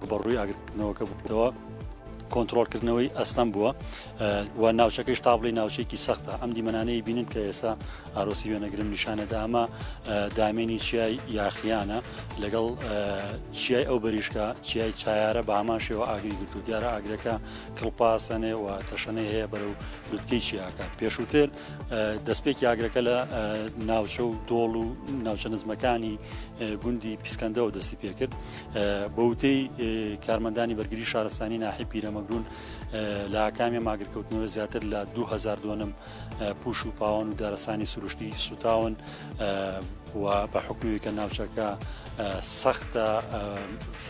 ڕوبەڕووی ئاگرکردنەوەکە بووتەوە کۆنتترۆلکردنەوەی ئەستەم بووە و ناوچەکەی شتابڵی ناوچێکی سەختە ئەم دیمەنانەی بینن کە ئێسا ئارۆسی وێنەگرن نیشانەدا ئەمە دامێنی چیای یاخیانە لەگەڵ چیای ئەو بەریشکە چیای چایارە بە هەمان شێوە ئاگری گرتو دیارە ئاگرەکە کڵپاسەنێ و تەشەنەی هەیە بەرەو لوتکەی چیاکە پێشووتر دەستپێکی ئاگرەکە لە ناوچە و دۆڵ و ناوچە نزمەکانی گوندی پیسکەندەوە دەستی پێکرد بە وتەی کارمەندانی بەرگری شارستانی ناحی پیرەمەگرون لە ئاکامی ماگرکەوتنەوە زیاتر لە 2000 دۆنم پوش و پاوان و دارستانی سروشتی سوتاون و بە حکومی کە ناوچەکە سەختە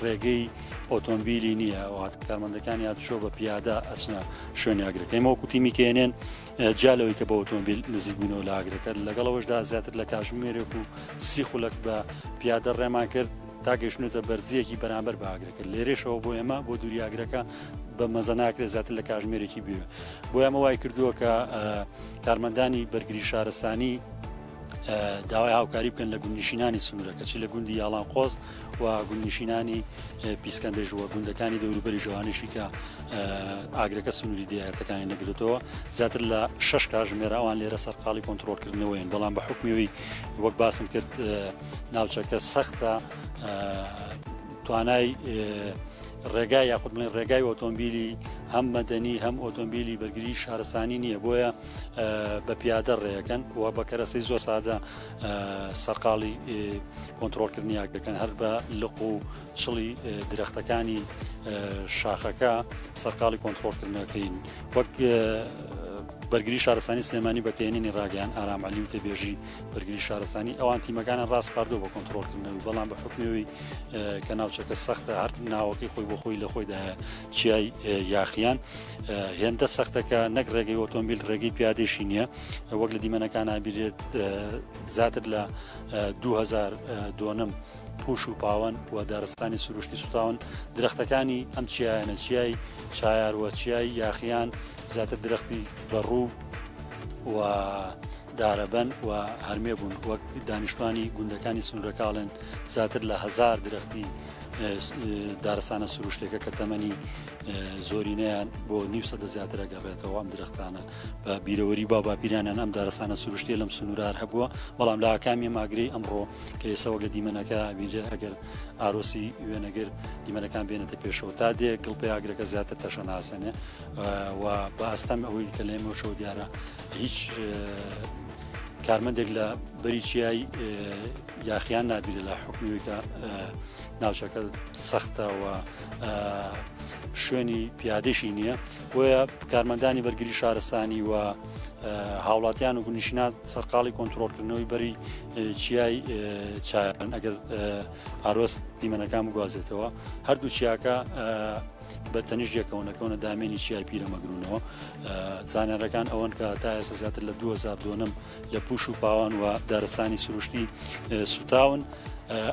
ڕێگەی ئۆتۆمبیلی نییە وات کارمەندەکانی هاتوچۆ بە پیادە ئەچنە شوێنیاگرەکەی مەوکوتی میکێنێن جیا لەوەی کە بە ئۆتۆمبیل نزیک بوونەوە لە ئاگرەکە لەگەڵ ئەوەشدا زیاتر لە کاژمێرێک و سی خولەک بە پیادە ڕێمان کرد تا گەشتنێتە بەرزیەکی بەرامبەر بە ئاگرەکە لێرێشەوە بۆ ئێمە بۆ دووری ئاگرەکە بە مەزە ناکرێت زیاتر لە کاژمێرێکی بێ بۆ ئەمە وای کردووە کە کارمەندانی بەرگری شارستانی داوای هاوکاری بکەن لە گوندنشینانی سنوورەکە چی لە گوندی یاڵان قۆز و گوندنشینانی پیسکەندێش وە گوندەکانی دەوروبەری ژوانشی کە ئاگرەکە سنووری دیاتەکانی نەگرێتەوە زیاتر لە شش کاژمێرە ئەوان لێرە سەرقاڵی کۆنتترۆلکردنەوەین بەڵام بە حکمەوەی وەک باسم کرد ناوچەکە سەختە توانای ڕێگای یاخود من ڕێگای ئۆتۆمبیلی هەم مەدەنی هەم ئۆتۆمبیلی بەرگری شارستانی نییە بۆیە بە پیادە ڕێەکەن و بە کەرەسی زۆر سادە سەرقاڵی کۆنتترۆلکردنیاک دەکەن هەر بە لق و چڵی درەختەکانی شاخەکە سەرقاڵی کۆنتترۆلکردنەکەین وەک بەرگری شارستانی سلێمانی بەکەێنی ڕاگەیان ئارام علی و تێبێژی بەرگری شارستانی ئەوان تیمەکانە ڕاست پاردو بە کۆنتترۆلکردنەوەی بەڵام بە حکمەوەی کە ناوچەکە سەختە هەر ناوەکەی خۆی بۆ خۆی لە خۆیدا چیای یاخیان هێندە سەختەکە نەک ڕێگەی ئۆتۆمبیل ڕێگەی پیادێشی نییە وەک لە دیمەنەکان نابیرێت زیاتر لە 2000 دۆنم پوش و پاوەن و دارستانی سروشتی سوتاون درختەکانی ئەم چیایەنە چیای چایاروە چیای یاخیان زیاتر درختی بەڕوو و دارەبەن و هەرمێ بوون وەک دانیشتوانی گوندەکانی سنوورەکاڵێن زیاتر لە هزار درختی دارستانە سروشتێکە کە تەمەنی زۆرینەیان بۆ نیو سەدە زیاترە گەڕێتەوە ئەم درختانە بە بیرەوەری با باپیرانیان ئەم دارستانە سروشتێ لەم سنوورار هەبووە بەڵام لە ئاکامی ماگری ئەمڕۆ کە ئێسەوە لە دیمەنەکە بیرێ ئەگەر ئارۆسی وێنەگر دیمەنەکان بێنێتە پێشەوە تا دێ گڵپی ئاگرەکە زیاتر تەشە ناسەنێ و بە ئەستەم ئەوەی کە لێمەشەوە دیارە هیچ کارمەندێک لە بەری چیایی یاخیان نابینێ لە حکومی کە ناوچەکە سەختە و شوێنی پیادێکی نییە بۆیە کارمەندانی بەرگری شارستانی و هاوڵاتیان و گونیشینات سەرقاڵی کۆنتترۆلکردنەوەی بەری چیای چایان ئەگەر ئارۆس دیمەنەکان بگوازێتەوە هەردوو چیاکە بە تەنیش یەکەونەکەونە دامێنی چیای پیرەمەگرونەوە زانارەکان ئەوەن کە تا ئێستا زیاتر لە 2002م لە پوش و پاوان و دارستانی سروشتی سوتاون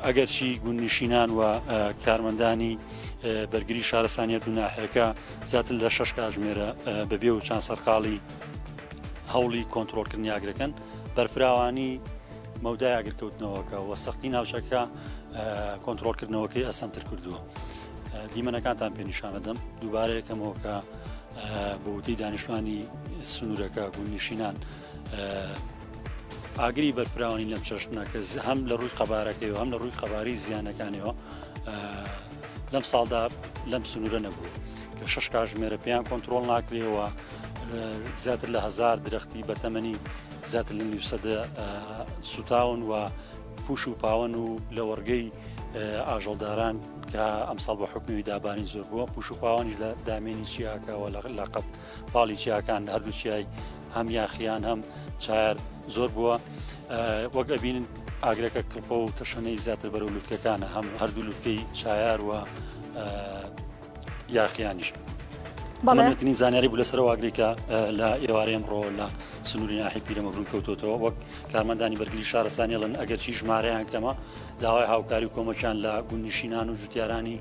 ئەگەرچی گوندنیشینان و کارمەندانی بەرگری شارستانیت و ناحەکە زیاتر لە شش کاژمێرە بەبێ و چند سەرقاڵی هەوڵی کۆنتترۆلکردنی ئاگرەکەن بەرفراوانی مەودای ئاگرکەوتنەوەکە و سەختی ناوچەکە کۆنتترۆلکردنەوەکەی ئەسەمتر کردووە دیمەنەکانتان پێ نیشانەدەم دووبارەیەکەمەوە کە بۆ وتی دانیشتوانی سنوورەکە گوندنیشینان ئاگری بەرفراوانی لەم چەشنە کە هەم لە ڕووی قەبارەکەی و هەم لە ڕووی قەباری زیانەکانەوە لەم ساڵدا لەم سنوورە نەبوو کە شش کاژمێرە پێیان کۆنتترۆل ناکرێەوە زیاتر لە هزار درختی بە تەمەنی زیاتر لە نیوسەدە سوتاون و پوش و پاوەن و لە وەرگەی ئاژەڵداران کە ئەمساڵ بە حکومی دابانی زۆر بووە پوش و پاوانیش لە دامێنی چیاکەوە لە لەقەت پاڵی چیاکان هەردوو چیای هەم یاخیان هەم چایار زۆر بووە وەک ئەبین ئاگرەکە کڵپە و تەشەنەی زیاتر بەرەو لوتکەکانە هەم هەردوو لوتکەی چایار و یاخیانیش بەڵێتنی زانیاری بوو لەسەر واگریکە لە ئێوارە ئەمڕۆ لە سنووری ناحی پیرەمەگرون کەوتۆتەوە وەک کارمەندانی بەرگری شارستانیڵن ئەگەرچی ژمارەیان کەمە داوای هاوکاری و کۆمەکیان لە گوندنشینان و جوتیارانی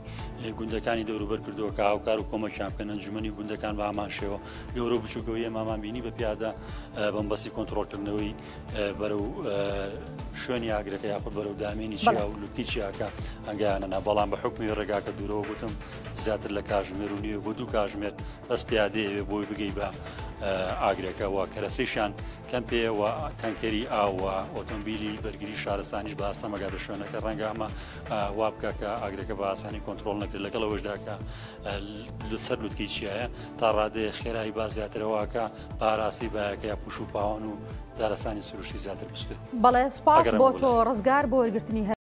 گوندەکانی دەوروبەر کردووە کە هاوکار و کۆمەکیان بکەن ئەنجومی گوندەکان بە ئامانشەوە گەورە و بچووکەوەیە مامان بینی بە پیادە بەمبەسی کۆنتترۆلکردنەوەی بەرە و شوێنی ئاگرەکە یاخود بەرە و دامێنی چیا و لوتی چیاکە ئەنگیانەنا بەڵام بە حکمی ڕێگاکە دوورەوە گوتم زیاتر لە کاژمێر و نیوە بۆ دوو کاژمێر بەس پیادەیەوێ بۆی بگەی بە ئاگرەکەەوە کەرەسەیشان کەمپێ و تەنکەری ئاو و ئۆتۆمبیلی بەرگری شارستانیش بە ئاستەمە گاتە شوێنەکە ڕەنگە ئەمە وا بکە کە ئاگرەکە بە ئاسانی کۆنتترۆل نەکرێت لەگەڵ ئەوشداکە لەسەر لوتکی چیە تا ڕادێ خێرایی با زیاترەوەکە پاراسی باەکە یا پوش و پاوان و دارستانی سروشتی زیاتر بستێت بەڵێ سپاگەر بۆ تۆ ڕزگار بۆ وەرگرتنی هەر